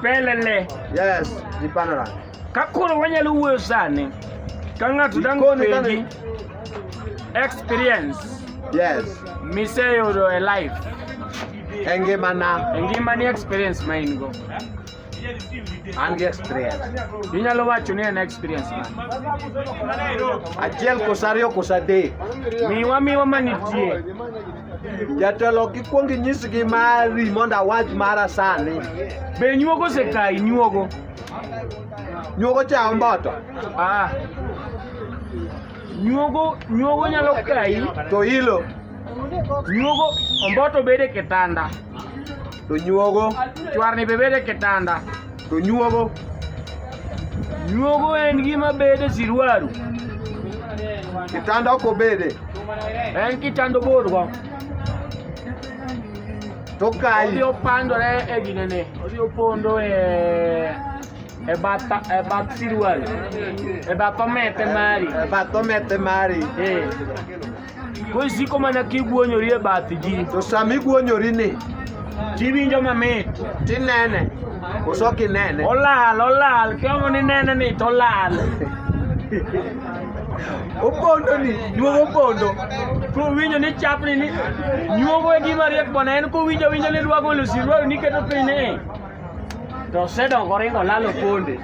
Pelele. Yes, jipandara. Kakoro wanyalo wuoyo sani ka ng'ato dang' Jikoni ka penji ni- experience Yes. miseyudo e life E ngimana e ngimani experience ma in go an gi experience. inyalo wacho ni en experience mane Achiel kosa ariyo kosa adek. miwa miwa manitie Jatelo kikwong inyisgi mari mondo awach mara sani. Be nyuogo osekayi nyuogo? Nyuogo cha omboto. Ah. Nyuogo nyuogo nyalo kayi to ilo. Nyuogo omboto bede kitanda. to nyuogo chwarni be bedo e kitanda to nyuogo nyuogo en gima bedo e sirwaru kitanda ok obede en kitanda oborgo to kayi odhi opandore e ginene odhi opondo e e bath e bath sirwaru e bath omete mari e bath omete mari eh Koro isiko mana kiguonyori e bath ji. To sama iguonyori ni Tiwinjo mamit. tinene koso ok inene. Olal, olal. Kiongo ni nene ni to olal. Opondo ni nyuogo opondo. Kowinjo ni chapni ni nyuogo e gima riek bwana en kowinjo winjo ni rwago lusi rwago ni keto piny ni. To osedongo oringo lalo ponde.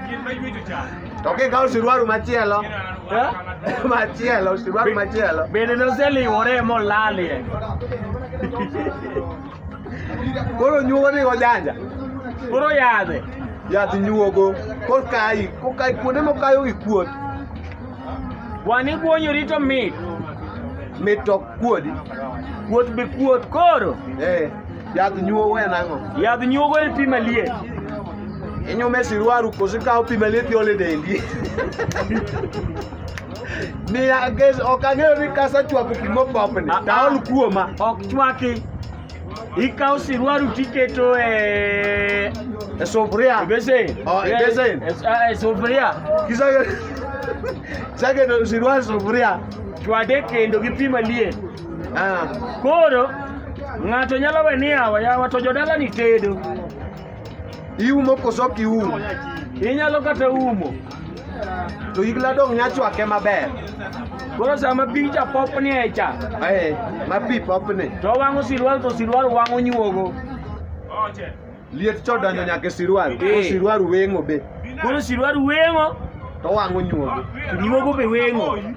To kikawo siruaru machielo, Eh? machielo, siruaru machielo. Bende noseliwore molalie. Koro nyuogo ni ojanja. Koro yadhe. Yath nyuogo. Kokayi, kokayi kuonde mokayo gi kuot. Wani guonyori to mit. Mit to kuodi. Kuot be kuot koro. Eh. Yadh nyuogo en ang'o? Yadh nyuogo en pi maliet. Inyume e siruaru koso ikawo pi maliet iole dendi. Ni ages ok ang'eyo ni kasa chwako pi mopopni. Ah, Taol ah. kuoma. Ok chwaki. Ikawo siruaru tiketo e e sufuria. E besen. Oh, e besen. E, e, e sufuria. Kisage Sage no siruaru sufuria. Chwade kendo gi pi maliet. Ah. Koro ng'ato nyalo we ni yawa yawa to jodala ni tedo. Iumo koso ok iumo? Inyalo kata umo. To igla dong' nya chwake maber. Koro sama pi cha popni e cha. Eh, ma pi popni. To wang'o sirwal to sirwal wang'o nyuogo. Oche. Liet to donjo nyaka e sirwal. Koro eh. sirwal weng'o be. Koro sirwal weng'o. To wang'o nyuogo. Nyuogo be weng'o.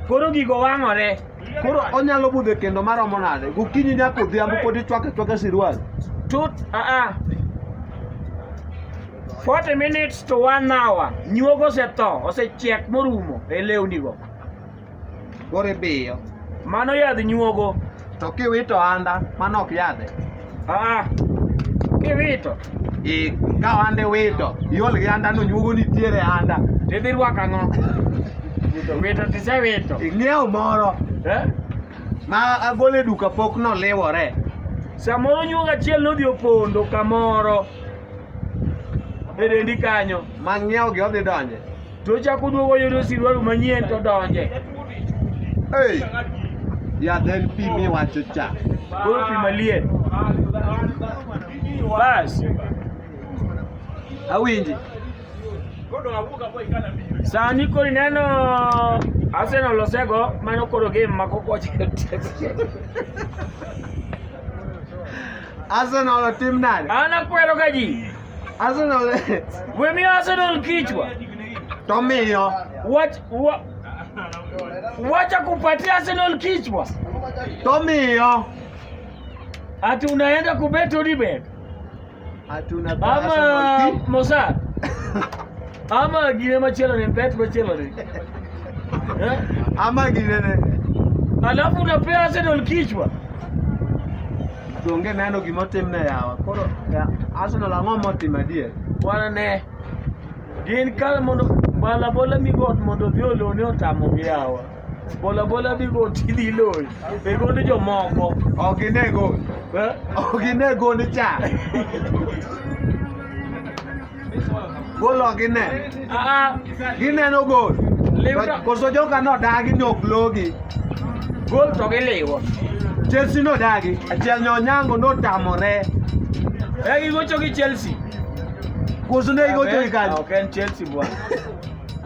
Koro gigo wang'ore. Koro onyalo budhe kendo maromo nade? Gokinyi nyaka odhiambo pod ichwake chwake sirwal. Tut, ah ah. 40 minutes to 1 hour. Nyuogo osetho, osechiek morumo e lewnigo. Koro ibiyo. Mano yadh nyuogo. To kiwito anda mano ok yadhe. Ah, kiwito. E, ka anda iwito, iol gi anda no nyuogo nitiere anda. Tidhi rwako ang'o? Wito tisewito. Ing'iewo moro. Eh? Ma agole duka pok noliwore. Samoro nyuogo achiel nodhi opondo kamoro. E dendi kanyo. Ma ng'iewo gi odhi donje. To chako duogo yudo siruaru manyien to donje. Hey. Ya then pi mi wacho cha. Koro pi maliet. Bas. Awinji. Sani koro ineno Arsenal osego mano koro game mako koche. Arsenal otim nade? An akwero ga ji. Arsenal eh. We mi Arsenal kichwa. Tomiyo. Wach wa, wacha kupatia Arsenal kichwa. Tomiyo. Ati unaenda kubet Odibet. Ati unabet Ama Arsenal kichwa. Mossad. Ama gine machielo ni bet machielo ni. Eh? Ama ginene. Alafu unapea Arsenal kichwa. Donge neno gima otimne yawa. Koro ya, Arsenal ang'o motimo adier? Bwana ne gin kal mondo bola bola migot mondo odhi olone otamogi yawa. Bola bola migot idhi loyi. E gond jomoko. Ok ine gol. Eh? Ok ine gol cha. Golo gine. Gineno gol. Koso joka nodagi ni ok logi. Gol to giliwo. Chelsea nodagi. Achiel nyonyango notamore. E gigocho gi Chelsea. Koso ne gigocho gi kanyo. Ok en Chelsea bwana.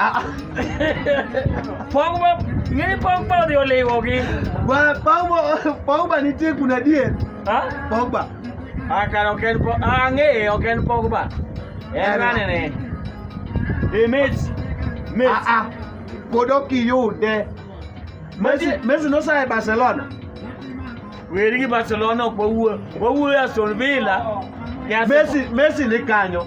อ่ะ Pong ba? Ngini pong pao di ole wogi. Wa Pogba Pogba ni tie kuna die. Ha? Pogba. Ah, kan oken po. Ah, nge oken pong ba. Eh, Era. nane ne. Eh, mates. Ah Mates. ah. Kodo ki yo de. Messi Messi- Messi no sai Barcelona. Weri gi Barcelona ok wawuo. Wawuo Aston Villa. gi Arsenal. Messi Messi ni kanyo.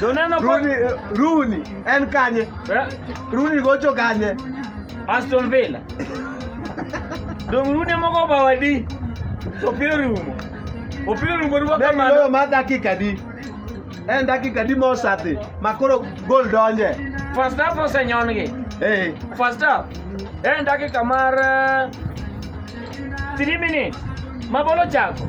Joneno Rooney, eh, Rooney en kanye? Eh? Rooney gocho kanye? Aston Villa. Dong Rooney moko bawadi. Opira rumo. Opira rumo rumo kamano. Dong ma dakika di. En dakika di mosati. Makoro gol donje. First half osenyongi. Eh. First half. En dakika mar 3 eh, minutes. Mabolo chako.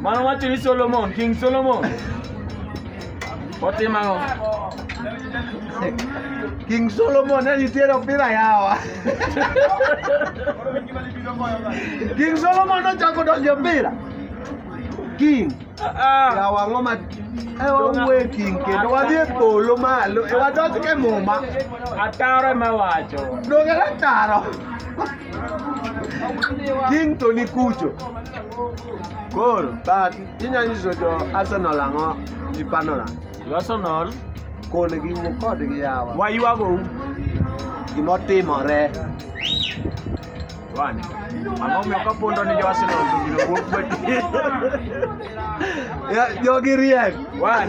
Mano wacho ni Solomon, King Solomon. Otimo ang'o? King Solomon ne nitiere opira yawa. King Solomon nochako donjo opira. King. Yawa ang'o ma e wawuoye King kendo wadhi e polo malo e wadonj ke muma. Ataro ema wacho. Donge ataro. King Tony Kucho koro but inyalo nyiso jo Arsenal ang'o gi Panola Jo Arsenal kon gi wuo kodgi yawa waywago u gima otimore wan ang'o miyo kapondo ni jo Arsenal to gino wuok kweti Ya, jogi riek wan